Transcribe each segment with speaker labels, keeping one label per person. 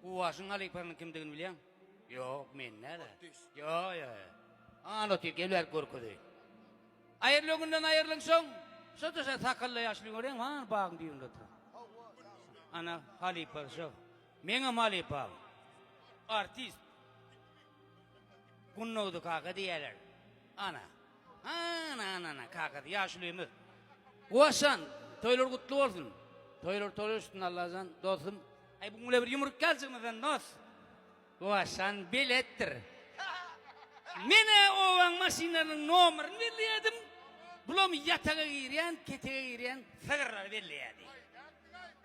Speaker 1: Guwaşyň halypasynyň kimdigini bilýäň? Ýok, men nädä? Ýo-ýo. An otyr, gel bäri görkezeýin. Aýrylygyňdan aýrylyňsoň, şo-da-şo sakalla ýaşuly göreýin, han bagyň düýbünde oturan. Ana, halypasy şo. Meňem halypam. Artist. Gunnogdy kaka diýýärler. Ana. Ana-ana-ana, kakasy ýaşulymyz. Guwaşjan, toýlar gutly bolsun. Toýlar toýlar üstünde Allajan, dostum. Aý bu mule bir ýumruk ýaljygymyzdan dos. Gowaşan beletdir. Menä obaň maşynlarynyň nomerini belleýädim. Bulam ýataga girýän, ketege girýän sygyrlary belleýärdi.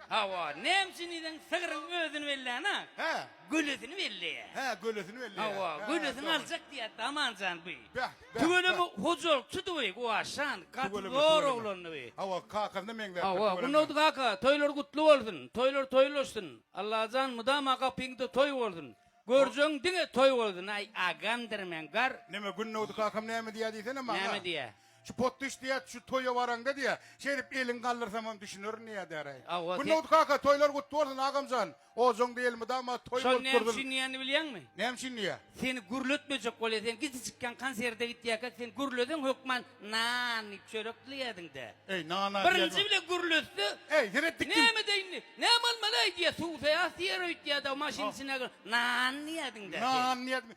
Speaker 1: Hawa, näme üçin diýseň sygryň özüni bellän-ä. Hä. Gölesini belleýär. Hä, gölesini belleýär. Hawa, gölesini aljak diýýärdi Amanjan bu. Bäh. Tüweleme hojalykçydyby bu Aşan, gaty zor oglandyby. Hawa, kakasyna meňzäpdir tüweleme. Hawa, Gurnagdy kaka, toýlar gutly bolsun, toýlar toýlaşsyn, Allajan mydama gapyňda toý bolsun, görjegiň diňe toý bolsun, aý, agamdyr men, gar. Näme, Gurnagdy kakam näme diýýär diýsene maňa. Näme diýýär? Şu potdyş diýýär, şu toýa baraňda diýýär, şeýdip eliňi galdyrsamam düşünerin diýýär däraý. Hawa, sen. Gurnagdy kaka, toýlar gutly bolsun, agamjan. Ojaň da elmydama toý Şol bolup näme dursun. üçin diýýänini bilýäňmi? Näme üçin diýýä? Seni gürletmejek bolýa. Sen kiçijikkäň konserte gitýärkä sen gürleseň hökman nan iýip çörek dileýärdiň-dä. Eý, nana diýýän Birinji wagt. bile gürletse, Eý, seret dik kim? Näme-de indi? Näme bolmaly-aý diýýär. Suwsaýas diýer öýtýär-de, maşynyň içine gir. Nan diýýärdiň-dä sen. Nan diýýärdim.